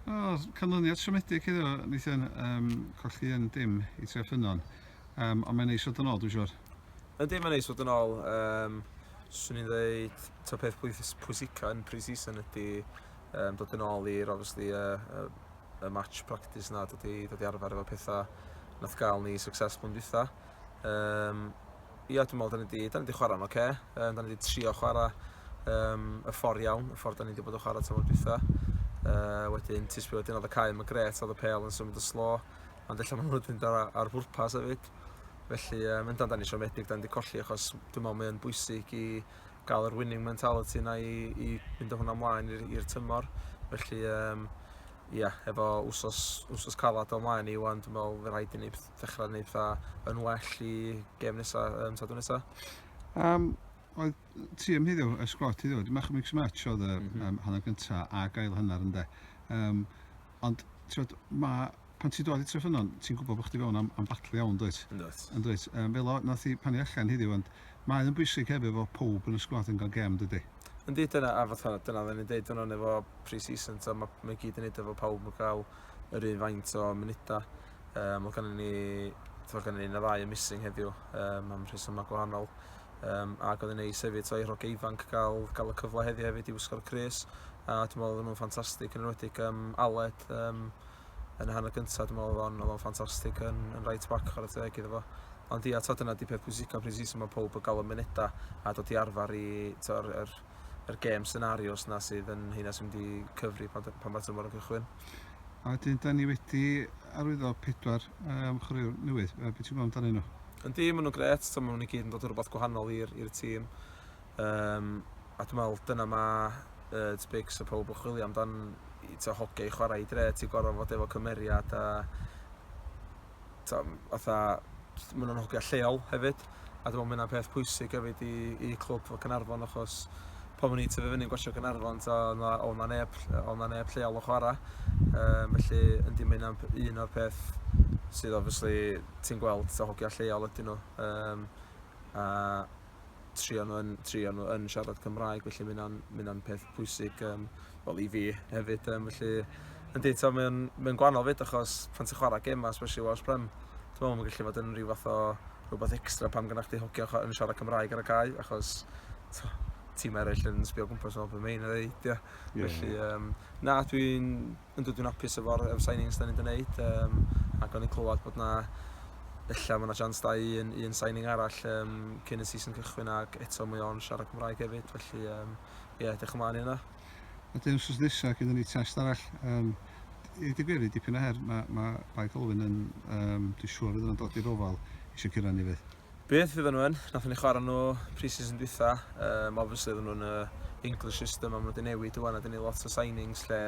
O, canlyniad siomedig iddo, Nathan. Um, colli yn dim i tre ffynon. Um, ond mae'n neis fod yn ôl, dwi'n siwr. Ydy, mae'n neis fod yn ôl. Um, Swn i'n dweud, to peth pwysica yn pre-season ydy um, dod yn ôl i'r, obviously, uh, uh, y match practice na, dod i, dod i arfer efo pethau nath gael ni successful yn dwytha. Um, Ia, dwi'n meddwl, da ni wedi, da ni wedi chwarae'n oce. Okay. Um, da ni wedi trio chwarae um, y ffordd iawn, y ffordd da ni wedi bod yn chwarae tymor dwytha. Uh, wedyn, tis bod wedyn oedd y cael yn gret, oedd y pel yn symud y slo. Ond efallai maen nhw wedi mynd ar, ar bwrpas hefyd. Felly, um, yndan, da ni siomedig, da ni wedi colli, achos dwi'n meddwl mae'n bwysig i gael yr winning mentality yna i, i fynd o hwnna ymlaen i'r tymor. Felly, um, ia, efo wsos, wsos calad o ymlaen i wan, dwi'n meddwl fe rhaid i ni beth ddechrau wneud dda yn well i gem nesaf, um, sadwn nesaf. Um, oedd ti am heddiw, y sgwad ti ddod, mach mix match oedd y mm -hmm. um, hanner gyntaf a gael hanner ynddo. Um, ond tiwod, mae pan ti'n dod i tref yno, ti'n gwybod bod chdi fewn am, am batlu iawn, dweud. Yndwyt. Yndwyt. Um, fel o, nath i pan i allan heddiw, ond mae'n yn bwysig hefyd fod pob yn y sgwad yn gael gem, dydy. Yndi, dyna, a fatha, dyna dda ni'n deud yno efo pre-season, mae ma gyd yn neud efo pawb yn cael yr un faint o munudau. Um, mae gennym ni, mae gennym ni na ddau yn missing heddiw um, am rhesymau gwahanol. Um, ac oedd yn ei sefyd o'i rhog ifanc gael, gael y cyfle heddi hefyd i wisgo'r Cris. A dwi'n meddwl oedd nhw'n ffantastig yn enwedig um, Aled um, yn y hanner gyntaf. Dwi'n meddwl oedd o'n ffantastig yn, yn right back ar y teg iddo fo. Ond ia, to, dyna di peth pwysicaf pryd season mae pob yn gael y mynedau a dod i arfer i, to, er, er, yr gêm senarios 'na sydd yn heina sy'n mynd i cyfri pan, pan mae tymor yn cychwyn. A wedyn, da ni wedi arwyddo pedwar um, chwaraewr newydd. Beth ti'n gwybod amdanyn nhw? Yndi, maen nhw'n gret. Maen nhw'n i gyd yn dod o rhywbeth gwahanol i'r tîm. Um, a dwi'n meddwl, dyna mae uh, Tbigs a pob yn chwilio amdan to hoge i chwarae i dre. Ti'n gorfod fod efo cymeriad a fatha jyst ma' 'na hogia lleol hefyd a dwi me'wl ma' ynna'n peth pwysig hefyd i i clwb fel Caernarfon achos pan o'n i'n tyfu fyny'n gwatsiad Caernarfon t'o' o' 'na o' 'na neb o' 'na neb lleol yn chwara yym felly yndi ma' ynna'n p- un o'r peth sydd obviously ti'n gweld t'o' hogia lleol ydyn nhw yym a trio nhw yn, trio nhw yn siarad Cymraeg, felly mae hynna'n ma peth pwysig um, well, i fi hefyd. Um, felly, yn dweud, mae'n ma gwahanol fyd achos pan ti'n chwarae gemau, especially Welsh Prem, ti'n meddwl, mae'n gallu fod yn rhyw fath o rhywbeth extra pam gynna'ch chdi hocio yn siarad Cymraeg ar y cae, achos tîm eraill yn sbio gwmpas o beth mae'n ei ddeud. Yeah. Yeah. Felly, um, na, dwi'n yn dod i'n hapus efo'r efo'r signings 'dan ni 'di wneud um, ac o'n i'n clywed bod 'na ella mae yna chance da i un, un signing arall um, cyn y season cychwyn ac eto mae o'n siarad Cymraeg hefyd felly um, yeah, edrych ymlaen i hynna. A dyn wrth nesaf gyda ni test arall. Um, I ddweud gwir, i dipyn o her, mae, mae Bai Colwyn yn, um, dwi'n siŵr fydd yna'n dod i'r ofal eisiau cyrraedd ni fydd. Beth fyddan nhw yn? Nathon ni chwarae nhw pre-season dwytha, um, obviously oedden nhw'n y English system a maen nhw wedi newid yw a dyn ni lot o signings lle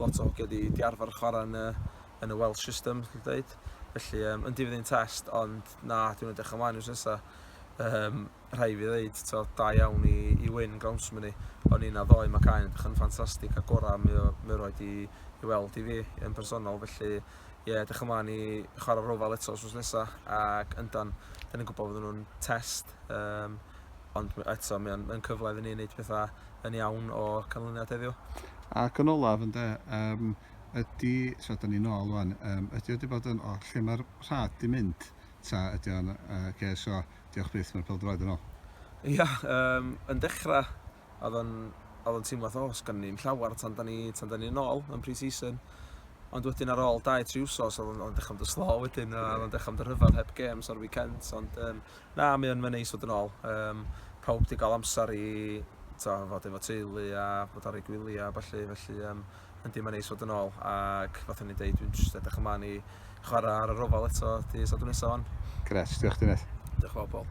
lot o hogiau wedi di arfer chwarae yn y, yn y Welsh system, dwi'n dweud. Felly, um, yndi fydd hi'n test, ond na, dwi'n edrych ymlaen i'r sesa. Um, rhai fi ddeud, to, da iawn i, i win Grounsman ni. O'n i'n addo i Macaen, edrych yn ffantastig a gorau mi, mi roed i, i weld i fi yn personol, felly ie, edrych ymlaen i chwarae rofal eto os nesaf, ac yndan, dyn ni'n gwybod fod nhw'n test, um, ond eto mae'n ma cyfle iddyn ni wneud pethau yn iawn o canlyniad heddiw. Ac yn olaf, ynddo, um, ydy, so da ni'n ôl rwan, um, ydy wedi bod yn, o, lle mae'r rhad di mynd, ta ydy o'n, uh, okay, so, diolch byth, mae'r pel droed yn ôl. Ia, um, yn dechrau Oedd o'n, oedd o'n teimlo fatha, o, sgan ni'm llawer tan da ni, tan da ni yn ôl yn pre-season. Ond wedyn ar ôl 2-3 wsos, oedd o'n, oedd o'n dechrau mynd yn slow wedyn, a oedd o'n dechrau mynd yn rhyfedd heb games ar weekends, ond um, na, mae o'n neis fod yn ôl. Um, pawb wedi cael amser i to, fod efo teulu a bod ar ei gwyliau a falle, felly um, yndi mae'n neis fod yn ôl ac fath o'n i'n deud dwi'n just edrych ymlaen i chwarae ar y rofal eto di Sadwrn nesaf hon. Gret, diolch Dynes. Diolch yn fawr Paul.